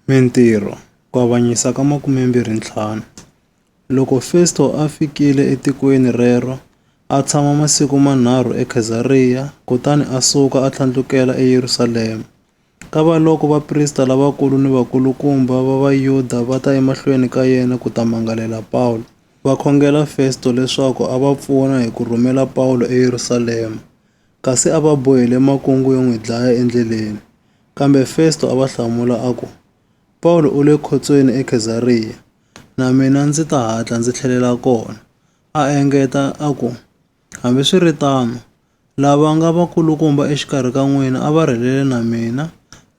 Mintirho, Ku avanyisa ka 25 Loko Festo a fikile etikweni rero, a tshama masiku manharhu eKhezariya, kutani a suka a tlhandlukela eYerusalema. Kavaloko vaprista lavakulu ni vakulukumba va Vayuda va ta emahlweni ka yena ku ta mangalela Pawulo, va khongela Festo leswaku a va pfuna hi ku rhumela Pawulo eYerusalema, kasi a va bohile makungu yo n'wi dlaya endleleni. Kambe Festo a va hlamula a ku, Pawulo u le khotsweni eKhezariya, na mina ndzi ta hatla ndzi tlhelela kona. A engeta a ku, Hambiswiritano, lava nga vakulukumba exikarhi ka n'wina a va rhelele na mina,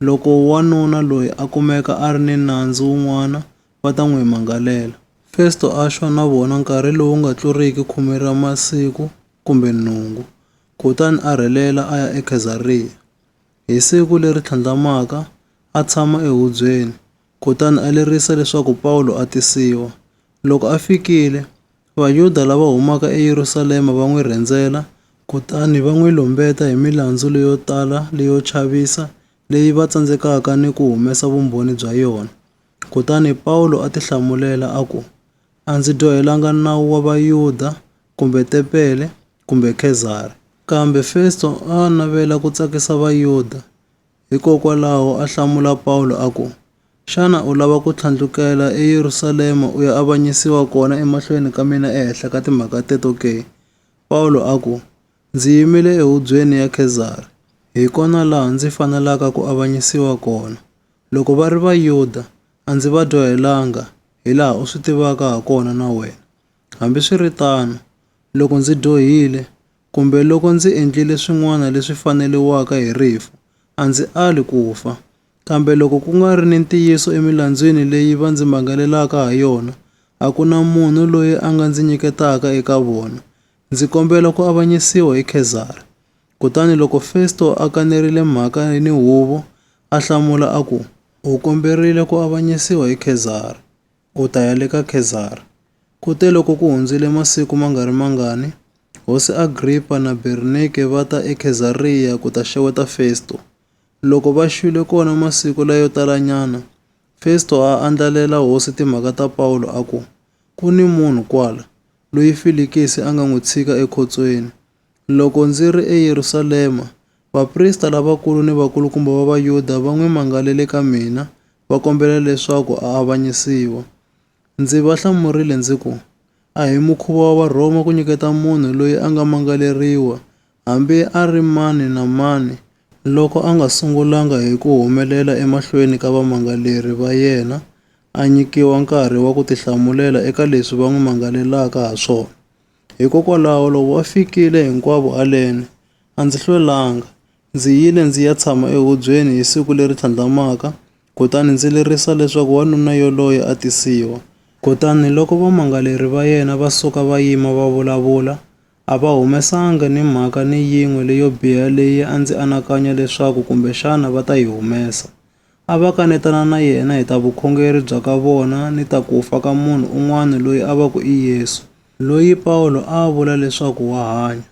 loko wanuna loyi a kumeka a ri ni nandzu wun'wana va ta n'wi mangalela. Festo a xwa na vona nkarhi lowu nga tluriki khume ra masiku kumbe nhungu, kutani a rhelela a ya eKhezariya. Hi siku leri tlhandlamaka, a tshama ehubyeni, kutani a lerisa leswaku Pawulo a tisiwa. Loko a fikile, Vayuda lava humaka eYerusalema va n'wi rhendzela kutani va n'wi lumbeta hi milandzu leyo tala leyo chavisa leyi va tsandzekaka ni ku humesa vumbhoni bya yona. Kutani Pawulo a tihlamulela a ku, A ndzi dyohelanga nawu wa Vayuda kumbe tempele, kumbe Kezari. Kambe Festo a a navela ku tsakisa Vayuda, hikokwalaho a hlamula Pawulo a ku, Xana u lava ku tlhandlukela eYerusalema u ya avanyisiwa kona emahlweni ka mina ehenhla ka timhaka teto ke? Pawulo a ku, Ndzi yimile ehubyeni ya Kezari. Hi kona laha ndzi fanelaka ku avanyisiwa kona. Loko va ri Vayuda, a ndzi va dyohelanga, hilaha u swi tivaka hakona na wena. Hambiswiritano, loko ndzi dyohile kumbe loko ndzi endlile swin'wana leswi faneriwaka hi rifu, a ndzi ali ku fa. Kambe loko ku nga ri ni ntiyiso emilandzwini leyi va ndzi mangalelaka ha yona, a ku na munhu loyi a nga ndzi nyiketaka eka vona. Ndzi kombela ku avanyisiwa hi Khezara. Kutani loko Festo a kanerile mhaka ni huvo, a hlamula a ku, U komberile ku avanyisiwa hi Khezara. u ta ya le ka Khezari. Kuteloko ku hundzile masiku ma nga ri mangani, hosi Agripa na Bernike va ta eKhezariya ku ta xeweta Festo. Loko va xwile kona masiku layo talanyana, Festo a andlalela hosi timhaka ta Pawulo a ku, Ku ni munhu kwala, loyi Filikisi a nga n'wi tshika ekhotsweni, Loko ndzi ri eYerusalema, vaprista lavakulu ni vakulukumba va Vayuda va n'wi mangalele ka mina, va kombela leswaku a avanyisiwa. Ndzi va hlamurile ndzi ku, A hi mukhuva wa Varhoma ku nyiketa munhu loyi a nga mangaleriwa, hambi a ri mani na mani, loko a nga sungulanga hi ku humelela emahlweni ka vamangaleri va yena a nyikiwa nkarhi wa ku tihlamulela eka leswi va n'wi mangalelaka ha swona. Hikokwalaho loko va fikile hinkwavo haleni, a ndzi hlwelanga. Ndzi yile ndzi ya tshama ehubyeni hi siku leri tlhandlamaka kutani ndzi lerisa leswaku wanuna yoloye a tisiwa. Kutani loko vamangaleri va yena va suka va yima va vulavula, a va humesanga ni mhaka ni yin'we leyo biha leyi a ndzi anakanya leswaku kumbexana va ta yi humesa. a va kanetana na yena hi ta vukhongeri bya ka vona ni ta ku fa ka munhu un'wana loyi a va ku i Yesu, loyi Pawulo a a vula leswaku wa hanya.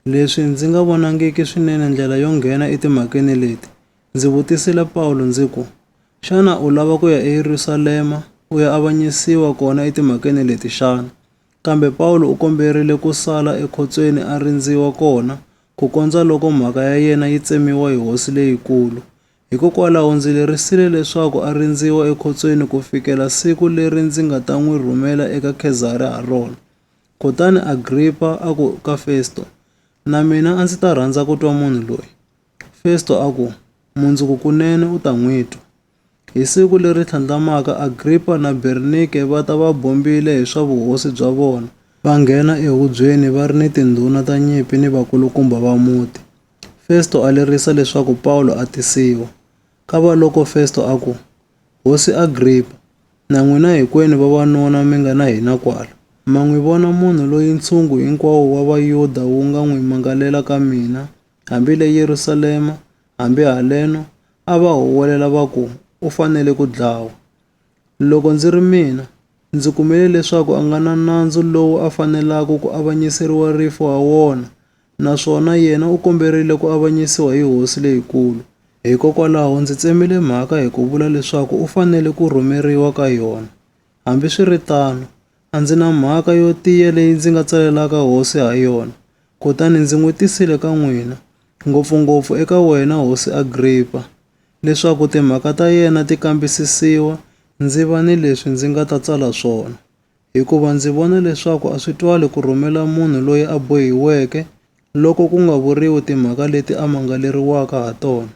Leswi ndzi nga vonangiki swinene ndlela yo nghena etimhakeni leti, ndzi vutisile Pawulo ndzi ku, Xana u lava ku ya eYerusalema u ya avanyisiwa kona etimhakeni leti xana? Kambe Pawulo u komberile ku sala ekhotsweni a rindziwa kona ku kondza loko mhaka ya yena yi tsemiwa hi hosi leyikulu. Hikokwalaho ndzi lerisile leswaku a rindziwa ekhotsweni ku fikela siku leri ndzi nga ta n'wi rhumela eka Khezari ha rona. Kutani Agripa a ku ka Festo, Na mina a ndzi ta rhandza ku twa munhu loyi. Festo a ku, Mundzuku kunene u ta n'wi twa. Hi siku leri tlhandlamaka, Agripa na Bernike va ta va bombile hi swa vuhosi bya vona, va nghena ehubyeni va ri ni tindhuna ta nyimpi ni vakulukumba va muti. Festo a lerisa leswaku Pawulo a tisiwa. Kavaloko Festo a ku, Hosi Agripa, na n'wina hinkwenu vavanuna mi nga na hina kwala, ma n'wi vona munhu loyi ntshungu hinkwawo wa Vayuda wu nga n'wi mangalela ka mina, hambi le Yerusalema, hambi haleno, a va huwelela va ku, U fanele ku dlawa. Loko ndzi ri mina, ndzi kumile leswaku a nga na nandzu lowu a fanelaka ku avanyiseriwa rifu ha wona, naswona yena u komberile ku avanyisiwa hi hosi leyikulu. Hikokwalaho ndzi tsemile mhaka hi ku vula leswaku u fanele ku rhumeriwa ka yona. Hambiswiritano, A ndzi na mhaka yo tiya leyi ndzi nga tsalelaka hosi ha yona, kutani ndzi n'wi tisile ka n'wina, ngopfu-ngopfu eka wena hosi Agripa, leswaku timhaka ta yena ti kambisisiwa, ndzi va ni leswi ndzi nga ta tsala swona. Hikuva ndzi vona leswaku a swi twali ku rhumela munhu loyi a bohiweke loko ku nga vuriwi timhaka leti a mangaleriwaka ha tona.